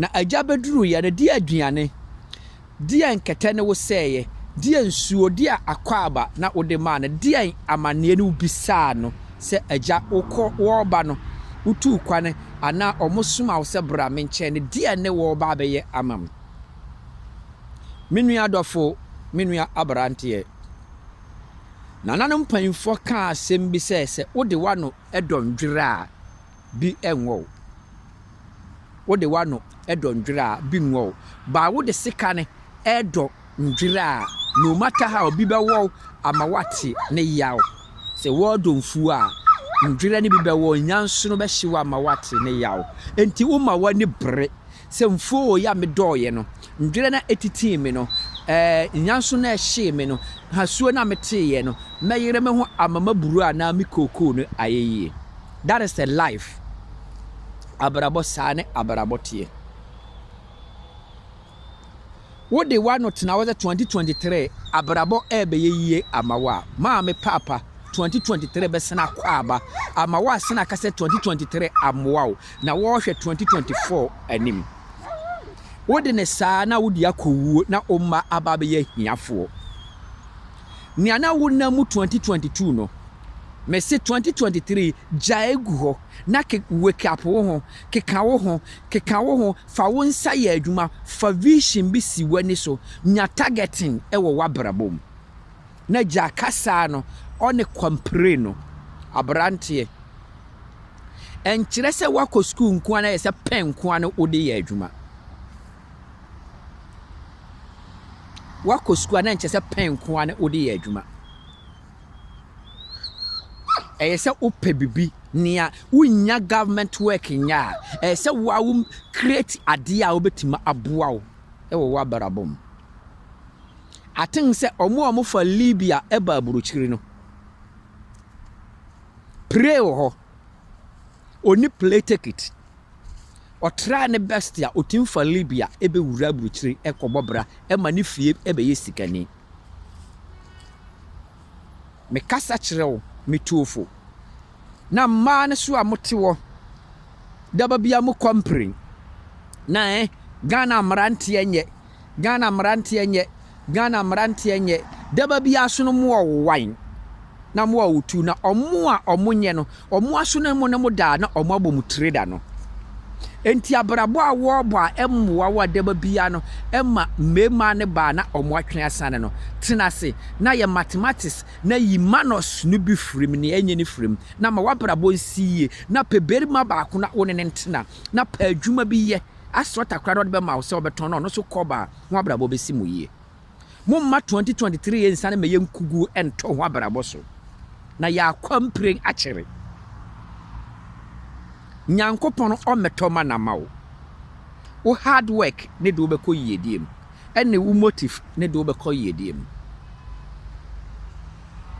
Na agya bɛduruiɛ no, deɛ aduane, deɛ nkɛtɛ ne wo sɛeɛ, deɛ nsuo, deɛ akwaaba na wode maa no, deɛn amaneɛ ne wobisaa no sɛ, Agya, wokɔ, wɔreba no, wotuu kwan anaa wɔsomaa wo sɛ bra me nkyɛn no, deɛn ne wɔreba abɛyɛ ama me? Me nua dɔfo, me nua aberanteɛ, nananom mpanimfoɔ kaa asɛm bi sɛ, sɛ wode w'ano dɔ nnwera a, bi nngɔ wo. Wo de w'ano dɔ ndwer a, bi nngɔ wo. But wo de sika no redɔ ndwer a, no matter how, bi bɛwɔ wo ama woatse ne yaw. Sɛ wɔredɔ mfuw a, ndwer no bi bɛwɔ wo, nyansono bɛhye wo ama woatse ne yaw. Ntsi woma w'ani ber. Sɛ mfuo wɔ yi a medɔɔeɛ no, ndwerɛ no a ɛtitii me no, ɛɛ, nyanso no a ɛhyee me no, hasuo no a meteeɛ no, mɛyere me ho ama m'aburoo anaa me kookoo no ayɛ yie. That is the life. Abrabɔ, saa ne abrabɔ teɛ. Wode w'ano tena hɔ sɛ twenty twenty three abrabɔ ɛɛbɛyɛ yie ama wo a, maame paapa, twenty twenty three bɛsan akɔ aba ama wo a sɛnea aka sɛ twenty twenty three ammoa wo na wɔrehwɛ twenty twenty four anim. Wode no saa na wode akɔ wuo na wo mma aba abɛyɛ ahiafoɔ. Nea na wonam mu twenty twenty two no, mese twenty twenty three gyae gu hɔ na ke wake up wo ho, keka wo ho, keka wo ho, Fa wo nsa yɛ adwuma, fa vision bi si w'ani so, nya targeting wɔ w'abrabɔ mu, na gyaa kasaa no, ɔne kwampire no. Abranteɛ, ɛnkyerɛ sɛ woakɔ sukuu nkoa na ayɛ sɛ pɛn nkoa na wode yɛ adwuma. Woakɔ sukuu a na ɛnkyerɛ sɛ pɛn nkoa na wode yɛ adwuma. Ɛyɛ sɛ wopɛ biribi nea wonnya government work nyɛ a, ɛyɛ sɛ wo ara wo create adeɛ a wobɛtumi aboa wo wɔ w'abrabɔ mu. I think sɛ wɔn a wɔfa Libya ba aburokyiri no, pray wɔ hɔ. Ɔni play ticket. Ɔtraa ne best a ɔtumi fa Libya bɛwura aburokyiri kɔbɔ bra ma ne fie bɛyɛ sikani. Mekasa kyerɛ wo, me tuofo, na mmaa no so a mote hɔ, da ba biara mokɔ mprɛn, na ɛɛ, Ghana mmeranteɛ nyɛ, Ghana mmeranteɛ nyɛ, Ghana mmeranteɛ nyɛ, da ba biara so no moɔwowan. na mo a wɔtu, na ɔmo a ɔmo nyɛ no, ɔmo aso na mo ne mo daa na ɔmo abɔ mo tire da no. Enti abrabɔ a wɔrebɔ a ɛmmoa wo adaba biara no ma mmarima ne baa na ɔmo atwe asane no. Tena ase na yɛ mathematics na yi manus no bi firi mu, nea ɛnyɛ no firi mu, na ma w'abrabɔ nsi yie, na pɛ barima baako na wo ne no ntena, na pɛ adwuma bi yɛ, asɔ takora na ɔde bɛma wo sɛ ɔbɛtɔn na ɔno nso kɔba a, mo abrabɔ bɛsi mo yie. Momma 2023 yi nsane mma yɛn nkugu ntɔ ho abrabɔ so, na yɛakɔ mpiren akyere. Nyankopɔn ɔmmɛtɔ ma na ma wo. Wo hard work ne de wobɛkɔ yiedie mu, ɛne wo motive ne de wobɛkɔ yiedie mu.